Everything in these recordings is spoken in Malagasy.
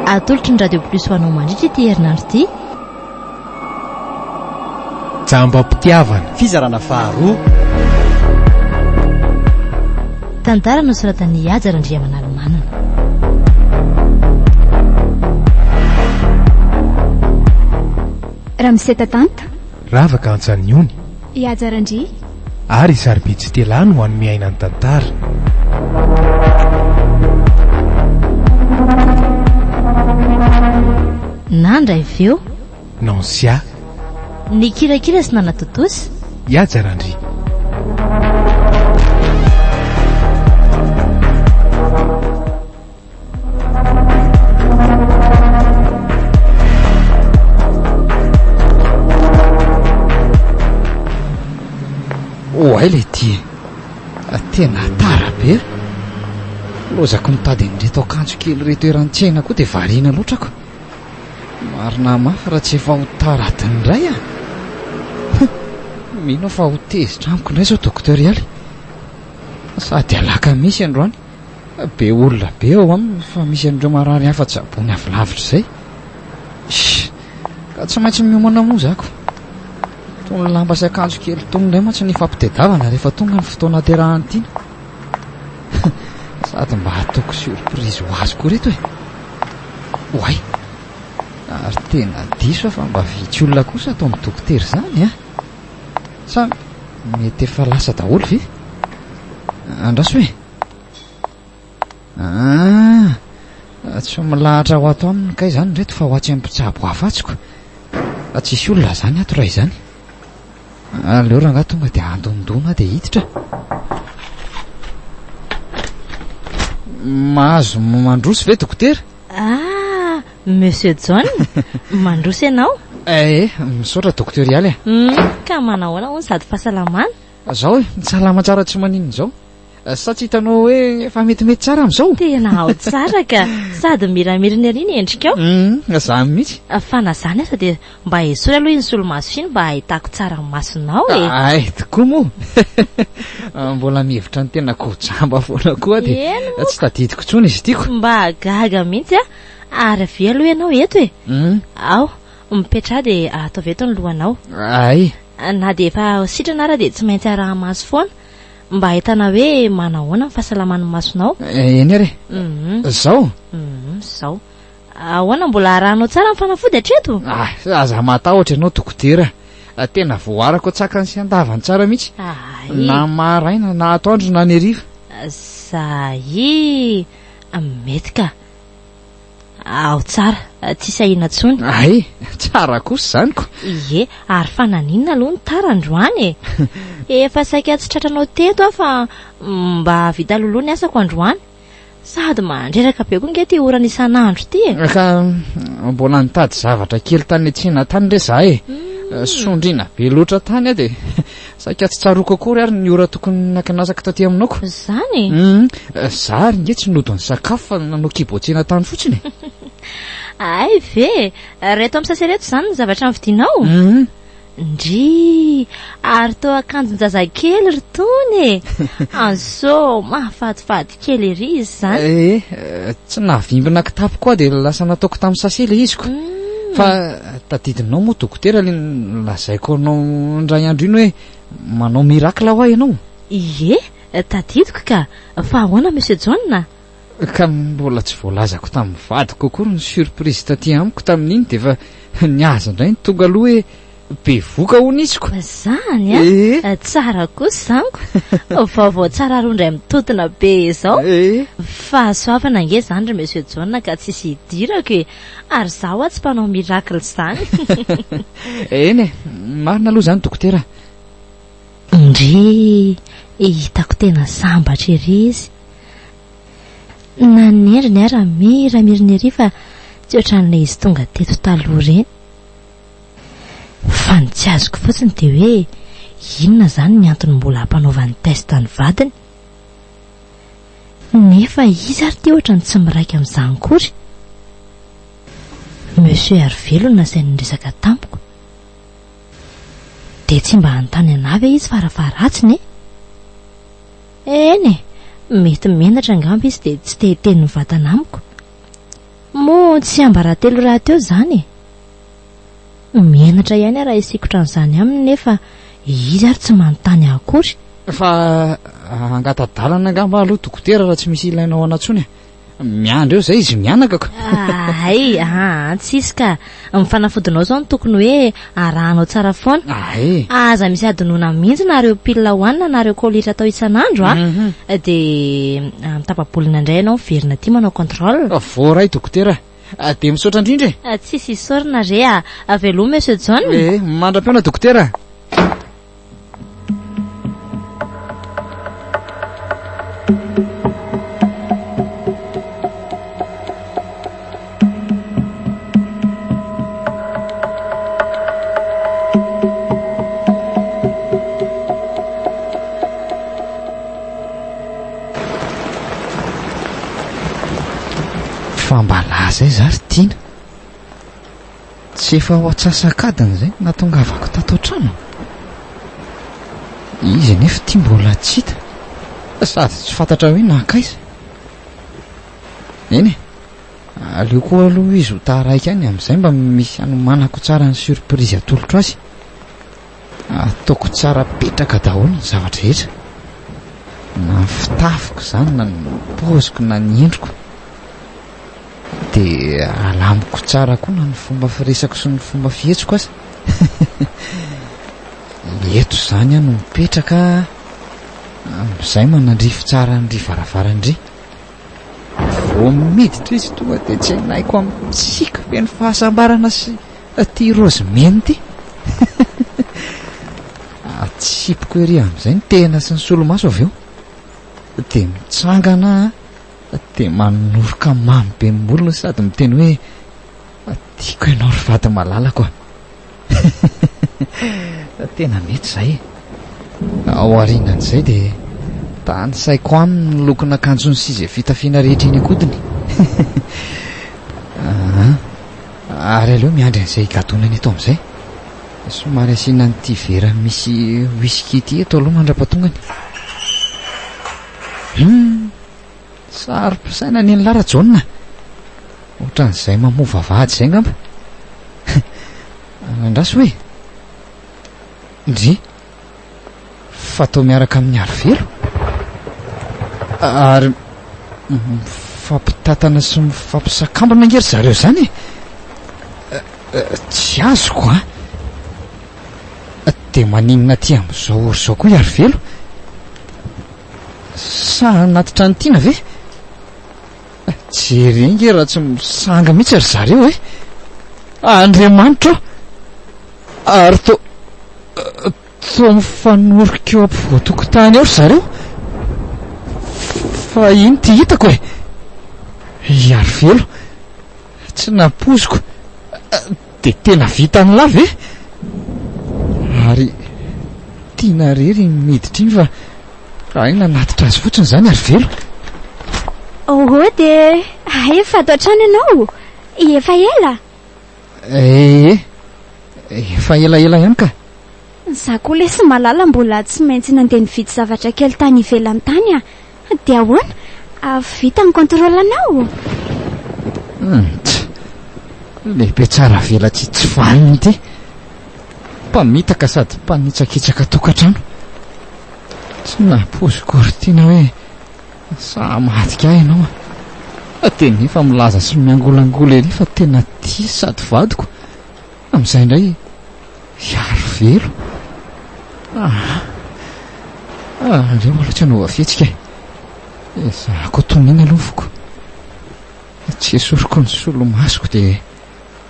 Atolotry ny Radio Plus ho anao mandritra ity herinandro ity. Jambam-pitiavana. Fizarana faharoa. Tantara nosoratan'i Haja Randriamanalomanana. Ramseta Tanta. Ravaka Antsaniony. I Haja Randria. Ary i Sarobidy Stella no hanome aina ny tantara. Nandra avy eo. Nancia. Nikirakira sy nanatontosa. I Haja Randria. Oay le ty e ah, Tena tara be eh. Lozako mitady an'ireto akanjo kely reto eran-tsena koa dia variana loatra ko Marina mafy raha tsy efa ho tara adiny iray ah Mino fa ho tezitra amiko indray izao dokotera Ialy Sady alakamisy androany Be olona be ao aminy fa misy an'ireo marary hafa tsaboiny avy lavitra izay. Ish! Ka tsy maintsy miomana moa za ko. Itony lamba sy akanjo kely itony indray mantsy no ifampitedavana rehefa tonga ny fotoana aterahan'ny tiana. Sady mba ataoko surprise ho azy koa ireto e. Oay! Ary tena diso aho fa mba vitsy olona kosa ato amin'ny dokotera izany an! Sa mety efa lasa daholo ve? Andraso e! Ah! Tsy milahatra ho ato aminy kay izany reto fa ho atsy mpitsabo hafa atsy ko. Tsisy olona izany ato raha izany. Aleo rangaha tonga dia andondona dia hiditra. Mahazo mandroso ve dokotera? Ah! Monsieur John, mandroso ianao? Eh, misaotra Docteur Ialy eh. Hum, ka manahoana hono sady fahasalamana? Zao eh, salama tsara tsy maninona izao. Eh, sa tsy hitanao hoe efa metimety tsara amin'izao? Tena ao tsara ka, sady miramirina ery ny endrikao. Hum, zany mihitsy. Ah, fa na zany aza dia mba esory aloha iny solomaso iny mba ahitako tsara ny masonao e. Eh. Ay, tokoa moa. Ah, mbola mihevitra ny tenako ho jamba foana koa dia tsy tadidiko intsony izy tiako. Mba gaga mihitsy ah. Ary avia aloha ianao eto e. Hmm? Ao, mipetraha dia ataovy eto ny lohanao. Ay. Na dia efa sitrana ara dia tsy maintsy araha-maso foana mba hahitana hoe manahoana ny fahasalaman'ny masonao. Eh, eny ary. Mhm. Zao? Mhm, zao. Ahoana mbola arahanao tsara ny fanafody hatreto? Ah, aza matahotra ianao dokotera. Ah, tena voarako tsakany sy andavany tsara mihitsy. Ay. Na maraina, na atoandro, na ny hariva. Zay. Mety ka. Ao tsara, tsy sahina intsony. Ay, tsara kosa izany ko. Ie, ary fa naninona aloha ny tara androany e? Efa saika tsy tratranao teto aho fa mba hahavita loloha ny asako androany. Sady mandreraka be koa nge ity orana isan'andro ity e. Ka mbola nitady zavatra kely tany Tsina tany re za e. Sondriana be loatra tany aho dia Saika tsy tsaroako akory ary ny ora tokony nakanasako taty aminako. Zany e? Hum, za ary nge tsy nody nisakafo fa nanao kibo tsena tany fotsiny e. Ay ve? Reto amin'ny sase ireto zany ny zavatra novidinao? Hum. Ndrii, ary toa akanjon-jazakely ry tony e! Anso, mahafatifaty. kely ery izy zany eh, eh tsy navimbina kitapoko aho dia lasa nataoko tamin'ny sase le iziko mm. fa eh, tadidinao moa dokotera le lazaiko anao ndray andro iny hoe manao miracle ho ahy ianao ie eh, tadidiko ka fa ahoana monsieur jona ka mbola tsy voalazako tamin'ny vadiko kokoa ny surprise taty amiko tamin'iny dia efa niaza indray ny tonga aloha hoe bevoka hono izy ko. Zany a? Eh. Tsara kosa zany ko. Vaovao tsara aroa indray mitotona be izao. Eh. Fahasoavana ange zany ry Monsieur John ka tsisy hidirako e. Ary za hoa tsy mpanao miracle zany. Eny e, marina aloha zany dokotera. Ndrii, hitako tena sambatra ery izy. Na ny endriny ara mira mirina ery fa tsy ohatran'ilay izy tonga teto taloha ireny. Fa ny tsy azoko fotsiny dia hoe inona izany ny antony mbola hampanaovany test ny vadiny? Nefa izy ary ity ohatrany tsy miraika amin'izany kory. Monsieur Hervé lo nasainy niresaka tamiko. Dia tsy mba hanontany anah ve izy fara faharatsiny e? Eny e, mety menatra angamba izy dia tsy te hiteny mivantana amiko. Moa tsy ambaratelo rahateo izany e? Menatra ihany aho raha hisikotra an'izany aminy nefa izy ary tsy manontany ahy akory. Fa hangata-dalana angamba aho aloha dokotera raha tsy misy ilainao anà intsony e. Miandry eo izay izy mianaka ko. Hay, aa, tsy hisy ka. Ny fanafodinao izao no tokony hoe arahanao tsara foana. Hay. Aza misy adinoina mihitsy na ireo pile hohanina na ireo collytra atao isan'andro a. Dia amin'ny tapa-bolana indray ianao miverina aty manao contrôle. Voaray dokotera. Dia misaotra indrindra e! Ah, tsisy isaorana re ah! Aveloma Monsieur John! Eh, mandra-pihaona Dokotera! Fa mba laza aiza ary Tiana? Tsy efa ho antsasak'adiny izay no nahatongavako tato an-trano? Izy anefa ity mbola tsy hita sady tsy fantatra hoe nankaiza. Eny e, aleoko aloha izy ho taraiky any, amin'izay mba misy hanomanako tsara ny surprise atolotro azy. Ataoko tsara petraka daholo ny zavatra rehetra, na ny fitafiko izany na ny paoziko na ny endriko, dia alamiko tsara koa na ny fomba firesako sy ny fomba fihetsiko aza. Eto izany aho no mipetraka, amin'izay manandrify tsara an'ry varavaran'ry. Vao miditra izy tonga dia tsenaiko amin'ny tsiky feno fahasambarana sy ity rozy mena ity. Atsipiko ery amin'izay ny tena sy ny solomaso avy eo. Dia mitsangana aho dia manoroka mamy be ny molony sady miteny hoe tiako ianao ry vady malalako a. Tena mety izay e! Aorianan'izay dia tanisaiko aminy ny lokon'akanjony sy izay fitafiana rehetra eny an-kodiny. Ary aleo miandry an'izay higadonana eto amin'izay. Somary asiana an'ity vera misy whisky ity eto aloha mandra-pahatongany. Saro-pisaina ny an'lah Rajaona a! Otran'izay mamoa vavahady izay ngamba! Andraso hoe! Ndry! Fa toa miaraka amin'ny Arivelo? Ary mifampitatana sy mifampisakambana ange ry zareo izany e! Tsy azoko a! Dia maninona aty amin'izao ry izao koa i Arivelo? Sa anaty trano tiana ve? Jereo nge raha tsy misanga mihitsy ry zareo e! Andriamanitra aho! Ary to toa mifanorika eo ampovoan-tokotany eo ry zareo! Fa iny ty hitako e! I Arivelo! Tsy nampoiziko! Dia tena vitan'lah ve? Ary tiana irery iny miditra iny fa hay nanatitra azy fotsiny izany ary velo. Ohoh dia hay efa ato an-trano ianao efa ela? Ee, efa elaela ihany ka. Za koa lesy malala mbola tsy maintsy nandeha nividy zavatra kely tany ivelany tany a. Dia ahoana? Vita ny contrôle anao? Humph! Lehibe tsara velatsihy tsy vanona ity. Mpamitaka sady mpanitsakitsaka tokantrano. Tsy nampoiziko Ortina hoe sahy hamadika ahy ianao. Dia nefa milaza sy miangolangola ery fa tena tia sady vadiko. Amin'izay indray hiaro velo. Aa! Ah, aleo mbola tsy hanaova fihetsika e. Ezahako atoniana aloha ny foko. Tsy esoriko ny solomasoko dia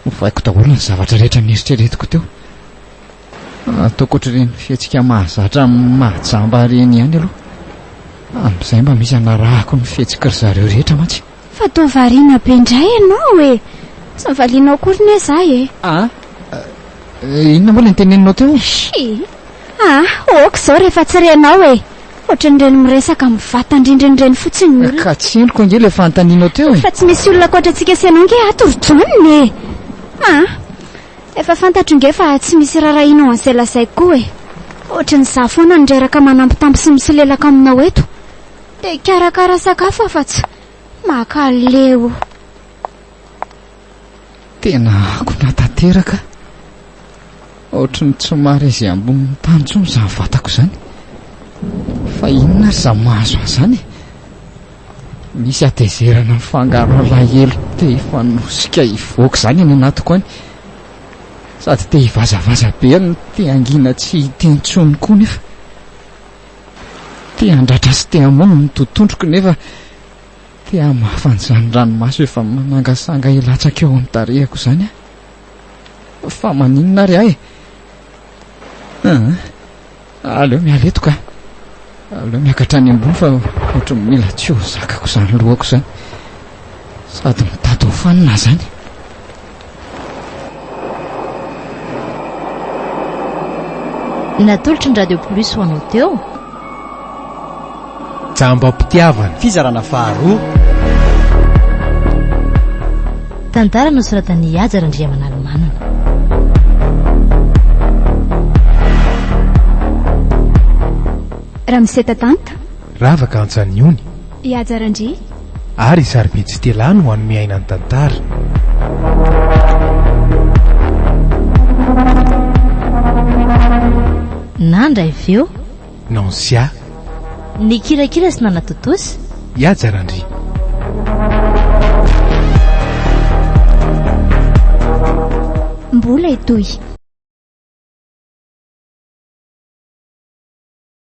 ovaiko daholo ny zavatra rehetra nieritreretiko teo. Ataoko ohatr'ireny fihetsika mahazatra amin'ny mahajamba ireny ihany aloha. Amin'izay mba misy hanarahako ny fihetsika ry zareo rehetra mantsy. Fa toa variana be indray ianao e! Tsy nivalianao akory ne za e! Ah! Inona moa ilay niteneninao teo e? Shii! Ah! Ôka izao rehefa tsy renao e! Ohatran'ireny miresaka amin'ny vatan-drindrina ireny fotsiny ny olona. Ka tsy henoko ange ilay fanontanianao teo e! Fa tsy misy olona ankoatra antsika sy ianao ange ato ry John e! Ah! Efa fantatro ange fa tsy misy rarahiana ao an'izay lazaiko koa e! Ohatran'izaho foana no reraka manambitamby sy misolelaka aminao eto. Te hikarakara sakafo aho fa tsy maka leo. Tena akona tanteraka. Ohatry ny tsy marezy ambonin'ny tany intsony izany vatako izany. Fa inona ary izany mahazo ahy izany e? Misy hatezerana mifangaro alahelo te hifanosika hivoaka izany any anatiko any. Sady te hivazavaza be no te hangina tsy hita intsony koa nefa. Te handratra sy te hamono ny tototroko nefa te hamafa an'izany ranomaso efa manangasanga hilatsaka eo amin'ny tarehako izany aho. Fa maninona ary ahy? Ah, aleo miala eto ka. Aleo miakatra any ambony fa ohatran'ny mila tsy ho zakako izany lohako izany. Sady mitady ho fanina izany. Natolotry ny Radio Plus ho anao teo. Jambam-pitiavana. Fizarana faharoa. Tantara nosoratan'i Haja Randriamanalomanana. Ramose Tatanta. Ravaka Antsaniony. I Haja Randria. Ary i Sarobidy Stella no hanome aina ny tantara. Nandra avy eo. Nancia. Nikirakira sy nanatontosa. I Haja Randria. Mbola hitohy.